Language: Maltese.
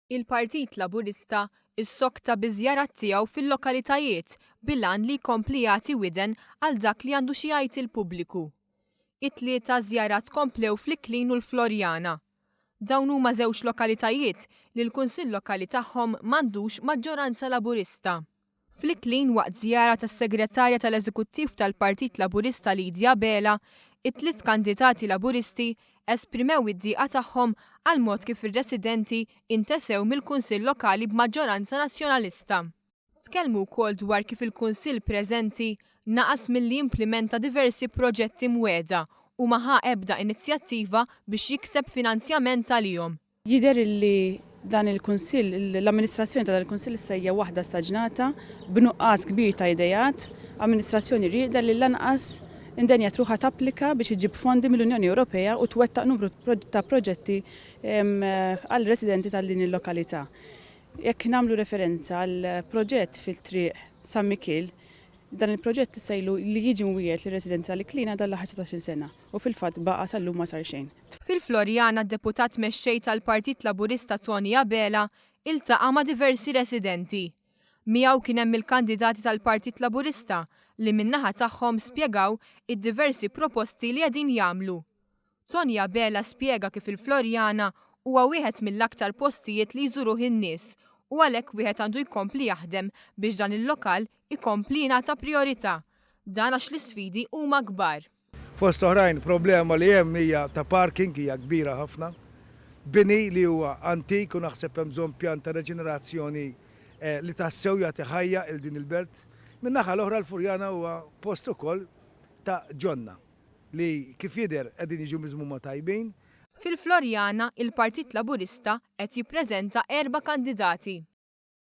Il-Partit Laburista ssokta biż-żjarat tiegħu fil-lokalitajiet bil-għan li jkompli jagħti widen għal dak li għandu xi jgħid il-pubbliku. It-tlieta żjarat komplew fl-Iklin u l-Floriana. Dawn huma żewġ lokalitajiet li l-Kunsill Lokali tagħhom m'għandux maġġoranza Laburista. F'Lick Lane waqt żjara tas-Segretarja tal-Eżekuttiv tal-Partit Laburista Lydia Abela, it-tliet kandidati Laburisti esprimew id-dieqa tagħhom għall-mod kif ir-residenti intesew mill-Kunsill Lokali b'maġġoranza Nazzjonalista. Tkellmu wkoll dwar kif il-Kunsill preżenti naqas milli jimplimenta diversi proġetti mwiegħda u ma ħa ebda inizjattiva biex jikseb finanzjament għalihom. Jidher illi dan il-Kunsill, l-amministrazzjoni ta' dan il-Kunsill issa hija waħda staġnata, b'nuqqas kbir ta' ideat, amministrazzjoni rieqda li lanqas indenjat ruħha tapplika biex iġġib fondi mill-Unjoni Ewropea u twettaq numru ta' proġetti għal residenti tal din il-lokalità. Jekk nagħmlu referenza għal proġett fit-triq San Mikiel, dan il-proġett issa ilu li jiġi mwiegħed lir-residenti tal-Iklina dan l-aħħar satax-il sena u fil-fatt baqa' sal-lum ma sar xejn. Fil-Floriana d-Deputat Mexxej tal-Partit Laburista Tony Abela iltaqa' ma' diversi residenti. Miegħu kien hemm il-kandidati tal-Partit Laburista li min-naħa tagħhom spjegaw id-diversi proposti li qegħdin jagħmlu. Tony Abela spjega kif il-Floriana huwa wieħed mill-aktar postijiet li jżuruh in-nies u għalhekk wieħed għandu jkompli jaħdem biex dan il-lokal ikompli jingħata prijorità. Dan għax l-isfidi huma kbar. Fost oħrajn, problema li hemm hija ta' parking, hija kbira ħafna. Bini li huwa antik u naħseb hemm bżonn pjan ta' reġenerazzjoni li tassew jagħti ħajja 'il din il-belt. Min-naħa l-oħra l-Furjana huwa post ukoll ta' ġonna li kif jidher qegħdin jiġu miżmuma tajbin. Fil-Floriana, il-Partit Laburista qed jippreżenta erba' kandidati.